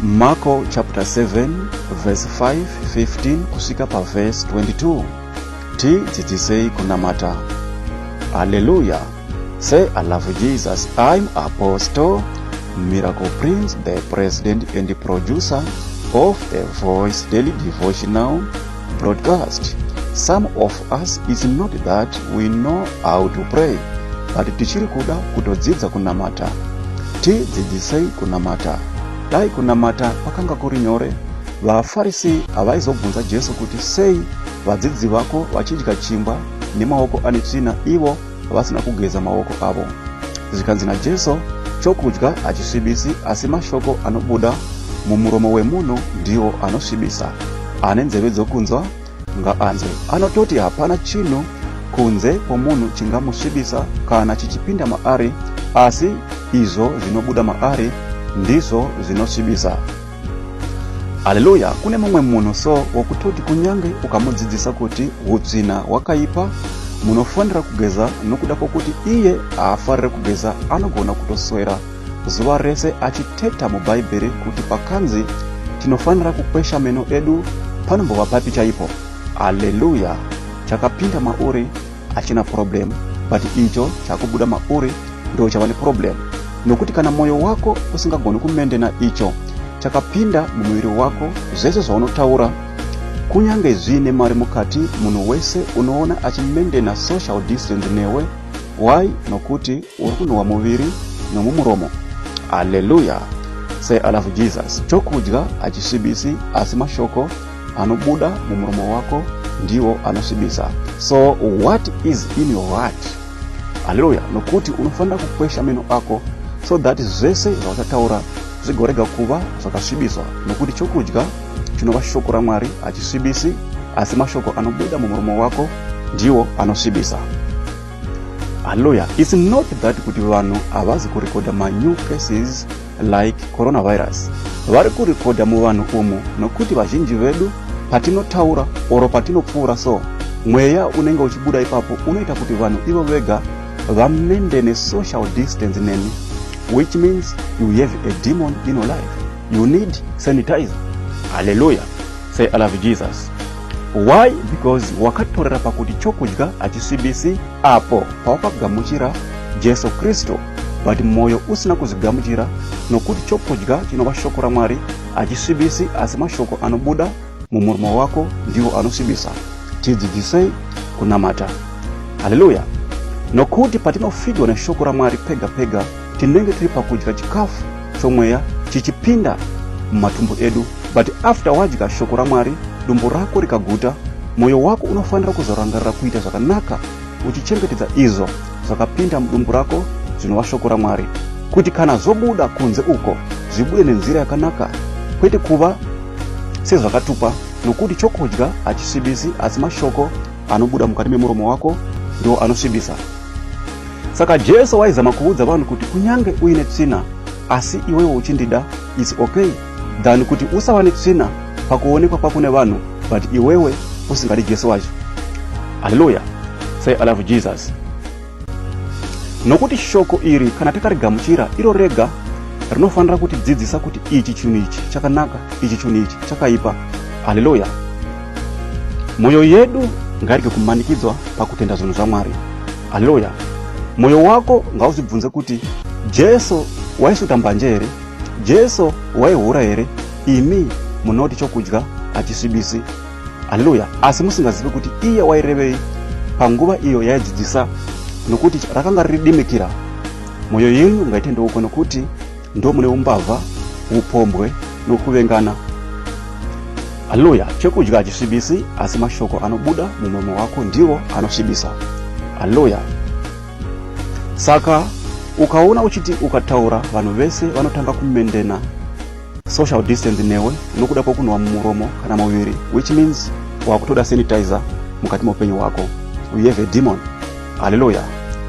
Marko chapter 7 verse 5, 15 kusvika paverse 22 tidzidzisei kunamata haleluya say i love jesus i'm apostle miracle prince the president and producer of the voice daily devotional broadcast some of us is not that we know how to pray but tichiri kuda kutodzidza kunamata tidzidzisei kunamata dai kunamata kwakanga kuri nyore vafarisi havaizobvunza jesu kuti sei vadzidzi vako vachidya chingwa nemaoko ane tsvina ivo vasina kugeza maoko avo zvikanzi najesu chokudya hachisvibisi asi mashoko anobuda mumuromo wemunhu ndiwo anosvibisa ane nzeve dzokunzwa ngaanzwe anototi hapana chinhu kunze kwomunhu chingamusvibisa kana chichipinda maari asi izvo zvinobuda maari ndizvo zvinosvibisa Haleluya, kune mumwe munhu so wokutoti kunyange ukamudzidzisa kuti hutsvina hwakaipa, munofanira kugeza nokuda kwokuti iye haafarire kugeza, anogona kutoswera zuva rese achiteta muBhaibheri kuti pakanzi tinofanira kukwesha meno edu panombova papi chaipo. Haleluya! Chakapinda mauri achina problem but icho chakubuda mauri ndo chava neproblem nokuti kana mwoyo wako usingagoni kumendena icho chakapinda mumuviri wako zvese zvaunotaura kunyange zviine mari mukati munhu wese unoona achimendena social distance newe why nokuti uri kunhuhwa muviri nomumuromo aleluya say i love jesus chokudya hachisvibisi asi mashoko anobuda mumuromo wako ndiwo anosvibisa so what is in your heart haleluya nokuti unofanira kukwesha meno ako so that zvese zvauchataura zvigorega kuva zvakasvibiswa nokuti chokudya chinova shoko ramwari hachisvibisi asi mashoko anobuda mumuromo wako ndiwo anosvibisa haleluya its not that kuti vanhu havazi kurekodha manew cases like coronavirus vari kurekodha muvanhu umu nokuti vazhinji vedu patinotaura oro patinopfuura so mweya unenge uchibuda ipapo unoita kuti vanhu ivo vega vamende nesocial distance nemi which means you have a demon in your life you need sanitizer haleluya say i love jesus why because wakatorera pakuti chokudya hachisibisi Apo pawakagamuchira Jesu Kristu, but mwoyo usina kuzvigamuchira, nokuti chokudya chinova shoko raMwari achisvibisi, asi mashoko anobuda mumurumo wako ndiwo anosvibisa. Tidzidzisei kunamata. Haleluya! Nokuti patinofidwa neshoko raMwari pega pega tinenge tiri pakudya chikafu chomweya chichipinda mumatumbu edu but after wadya shoko ramwari dumbu rako rikaguta mwoyo wako unofanira kuzorangarira kuita zvakanaka uchichengetedza izvo zvakapinda mudumbu rako zvinova shoko ramwari kuti kana zvobuda kunze uko zvibude nenzira yakanaka kwete kuva sezvakatupa nokuti chokudya hachisvibisi asi mashoko Anobuda mukati memuromo wako ndiwo anosvibisa. Saka Jesu waizama kuudza vanhu kuti kunyange uine tsvina asi iwewo uchindida is okay than kuti usava netsvina pakuonekwa kwako nevanhu but iwewe usingadi Jesu wacho. Hallelujah. Say I love Jesus. Nokuti shoko iri kana takarigamuchira iro rega rinofanira kuti dzidzisa kuti ichi chinhu ichi chakanaka ichi chinhu ichi chakaipa haleluya mwoyo yedu ngairege kumanikidzwa pakutenda zvinhu zvamwari haleluya mwoyo wako ngauzvibvunze kuti jesu waisuta mbanje here jesu waihura here imi munoti chokudya hachisvibisi Haleluya! Asi musingazivi kuti iye wairevei panguva iyo yaidzidzisa, nokuti rakanga riri dimikira. Mwoyo yenyu ngaitendeuko, nokuti ndo mune umbavha, upombwe nokuvengana. Haleluya! Chekudya hachisvibisi, asi mashoko anobuda mumuromo wako ndiwo anosvibisa. Haleluya! Saka ukaona uchiti ukataura, vanhu vese vanotanga kumendena. social distance newe nokuda kwokunwa mumuromo kana muviri which means wakutoda sanitizer mukati meupenyu hwako we have a demon haleluya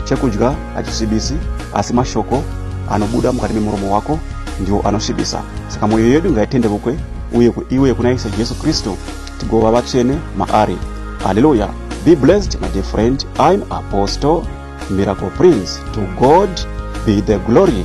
chekudya hachisvibisi asi mashoko anobuda mukati memuromo wako ndiwo anosvibisa saka mwoyo yedu ngaitendevukwe uye iwe kuna ishe jesu kristu tigova vatsvene maari haleluya be blessed my dear friend im apostle miracle prince to god be the glory